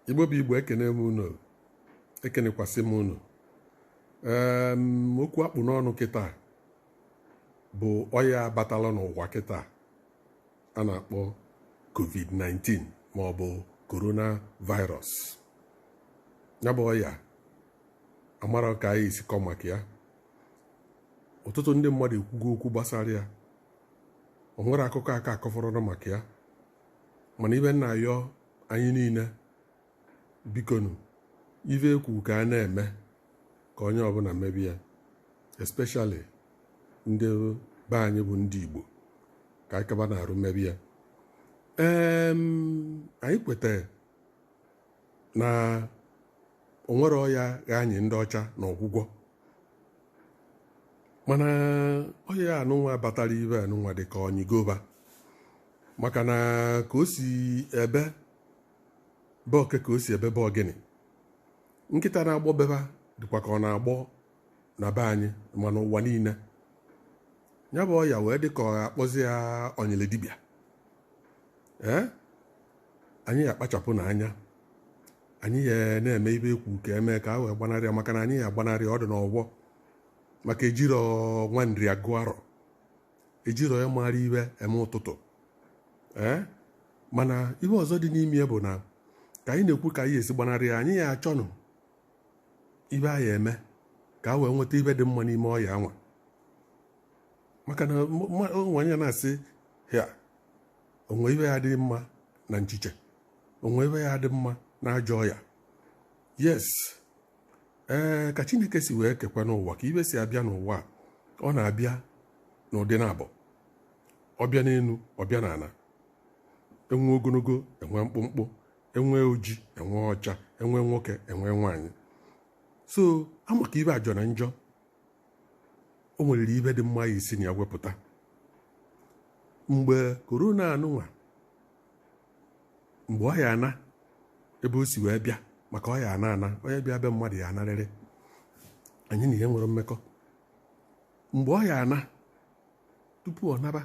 igbo bụ igbo ekene m unu ekenekwasị m unu okwu a kpụ n'ọnụ kịta bụ ọya batala n'ụwa kịta a na-akpọ covid-19 ma ọ bụ coronavirus ya bụ ọya amara ka anyị esi kọ maka ya ọtụtụ ndị mmadụ ekwugo okwu gbasara ya o nwerọ akụkọ aka akọfọrọ maka ya mana ibe m na-ayọ anyị niine bikonu ife ekwu ka a na-eme ka onye ọbụna mebe ya especially ndị be anyị bụ ndị Igbo ka anyị kaba n'arụ mebe ya ee anyị kwetara na onwerọ ọya ga-anyị ndị ọcha n'ọgwụgwọ mana ọya anụnwa batara ibe anụnwa dịka ọ nyịgo va maka na ka o si ebe be oke ka o si ebe be ọgịnị nkịta na-agbọ be va dịkwa ka ọ na-agbọ na be anyị ma n'ụwa niine ya bụ ọya wee dị ka a kpọzi ya ọnyịlị dibịa ee anyị ya akpachapụnụ anya anyị ya na-eme ibe ekwu ka eme ka a wee gbanarị ya maka na anyị ya agbanarị ya ọ dị n'ọgbọ maka ejirọ nwa nri agụ arọ ejirọ ya maara ibe eme ụtụtụ ee eh? mana ibe ọzọ dị n'ime ya bụ na ka anyị na-ekwu ka a ya esi gbanarị ya anyị ya achọnụ ibe a ya eme ka a wee nweta ibe dị mma n'ime ọya anwa maka na onye ya na-asị hia o nwe ibe ya adị mma na nchiche o nwe ibe ya adị mma na ajọ ọya yes ee ka chineke si wee kekwanụ ụwa ka ibe si abịa n'ụwa ọ na-abịa n'ụdị naabọ ọ bịa n'enu ọ bịa n'ana enwe ogonogo enwe mkpụmkpụ enwe oji enwe ọcha enwe nwoke enwe nwaanyị so amaka ibe ajọna njọ o nwerịrị ibe dị mma a ya esi na ya wepụta mgbe korona anụnwa mgbe ọ ya ana ebe o si wee bịa maka ọ ya ana ana onye bịa be mmadụ ya anarịrị anyị na ya enwerọ mmekọ mgbe ọ ya ana tupu ọ naba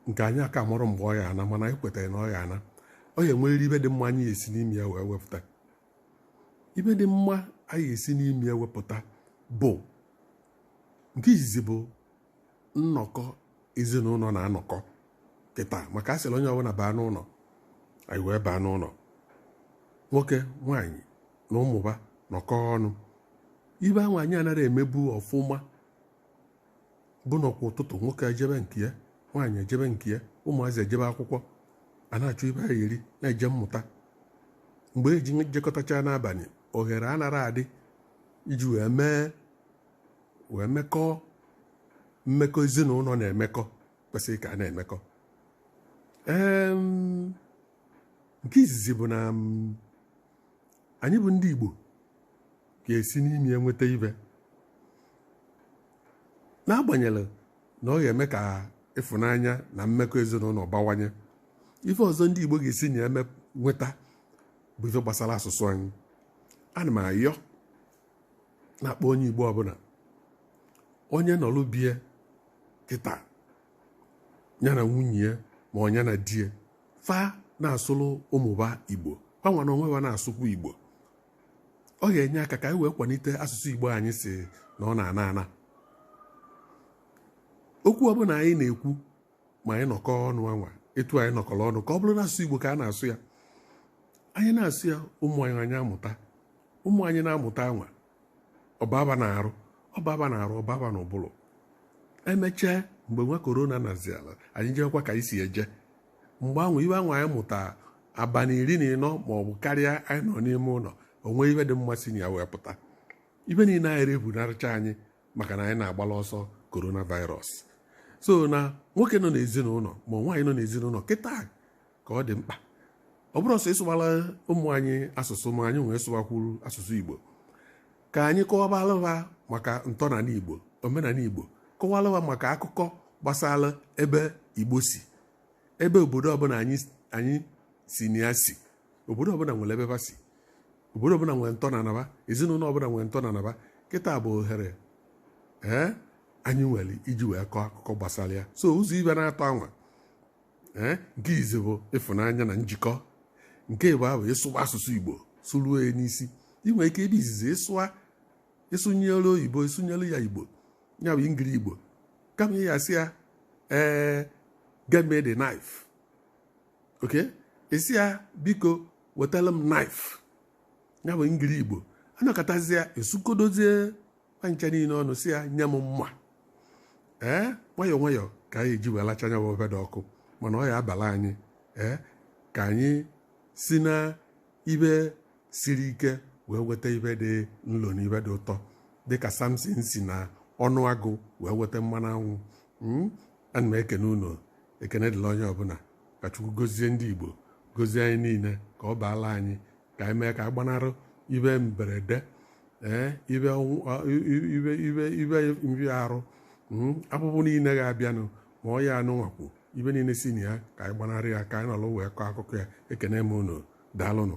nke anyị aka amarọ mgbe ọ ya ana mana anyị kwetara na ọ ya ana ọ ya enwerịrị ibe dị mma anyị ya esi n'ime ya wee wepụta ibe dị mma anyị ya esi n'ime ya wepụta bụ nke izizi bụ nnọkọ ezinụlọ na-anọkọ kịta maka a sịrị onye ọbụla baa n'ụlọ anyị wee baa n'ụlọ nwoke nwaanyị na ụmụ fa nọkọ ọnụ ife ahụ anyị anaghị emebu ọfụma bụ na kwa ụtụtụ nwoke ejebe nke ya nwaanyị ejebe nke ya ụmụazị ejebe akwụkwọ a na-achọ ife a ya-eri na-eje mmụta mgbe e ji jekọtacha n'abalị ohere anara adị iji wee mee wee mekọọ mmekọ ezinụlọ na-emekọ kwesịrị ka a na-emekọ nke izizi bụ na anyị bụ ndị Igbo ga-esi n'ime ya nweta ife n'agbanyeghị na ọ ga-eme ka ịfụnanya na mmekọ ezinụlọ bawanye ife ọzọ ndị Igbo ga-esi n'ime nweta bụ ife gbasara asụsụ anyị ana m ayọ na-akpọ onye igbo ọbụla onye nọlụ be ya kịta ya na nwunye ya ma ọ nya na di ya fa na-asụlụ ụmụ fa igbo fa nwa n'onwe fa na-asụkwu igbo ọ ga-enye aka ka anyị wee kwalite asụsụ igbo anyị sị na ọ na-ana ana okwu ọbụla anyị na-ekwu ma anyị nọkọ ọnụ anwa etu anyị nọkọrọ ọnụ ka ọ bụrụ na asụsụ Igbo ka a na-asụ ya anyị na-asụ ya ụmụ anyị amụta ụmụ anyị na-amụta anwa ọ baba n'arụ ọ baba n'ụbụrụ emechaa mgbe nwa korona nazịa anyị ejekwa ka anyị si eje mgbe anwa ife anwa anyị mụta abalị iri na ịnọ ma ọ bụ karịa anyị nọ n'ime ụlọ o nwe ife dị mma si na ya wee pụta ife niile anara efunarịcha anyị maka na anyị na-agbala ọsọ coronavirus so na nwoke nọ n'ezinụlọ ma nwaanyị nọ n'ezinụlọ kịta ka ọ dị mkpa ọ bụrọ sọ ịsụwala ụmụ anyị asụsụ ma anyị nwa sụwakwuru asụsụ igbo ka anyị kọwabara ha maka ntọnala igbo omenala igbo kọwara ha maka akụkọ gbasara ebe igbo si ebe obodo ọbụla anyị si na ya si obodo ọbụla nwere ebe ha si obodo ọbụla nwere ntọnana fa ezinụlọ ọbụla nwere ntọnana fa kịta bụ ohere ee anyị nwere iji wee kọọ akụkọ gbasara ya so ụzọ ife n'atọ anwa ee nke izi bụ ịfụnanya na njikọ nke ịbụa ịsụwa asụsụ igbo sụruo ya n'isi i nwe ike ebe izizi ịsụa ịsụnyere oyibo ịsụnyere ya igbo ya bụ ngiri igbo kama ị ya-asị ya ee get me the knife okay ị sị ya biko wetara m na ife a bụ ndị igbo nọkatazịa esukodozie ncha niile ọnụ sị ya nye m mma ee nwayọọ nwayọọ ka anyị eji wee lachaa ya ofe dị ọkụ mana ọ ya abala anyị ee ka anyị si na ive siri ike wee weta ive dị nlo na ive dị ụtọ dịka samson si na ọnụ agụ wee weta mmanụ anwụ hmm? ana m ekene unu ekene dịlị onye ọbụla ka chukwu gozie ndị igbo gozie anyị niile ka ọ baala anyị ka anyị mee ka anyị gbanarị ive mberede ee ive ọnwụ- ọ- i- ive ive ive nvịa arụ mm, avụvụ niile ga-abịanụ ma ọya nụnwa kwu ive niile si na ya ka anyị gbanarị ya ka anyị nọrọ wee kọọ akụkọ ya ekene m unu daalụnụ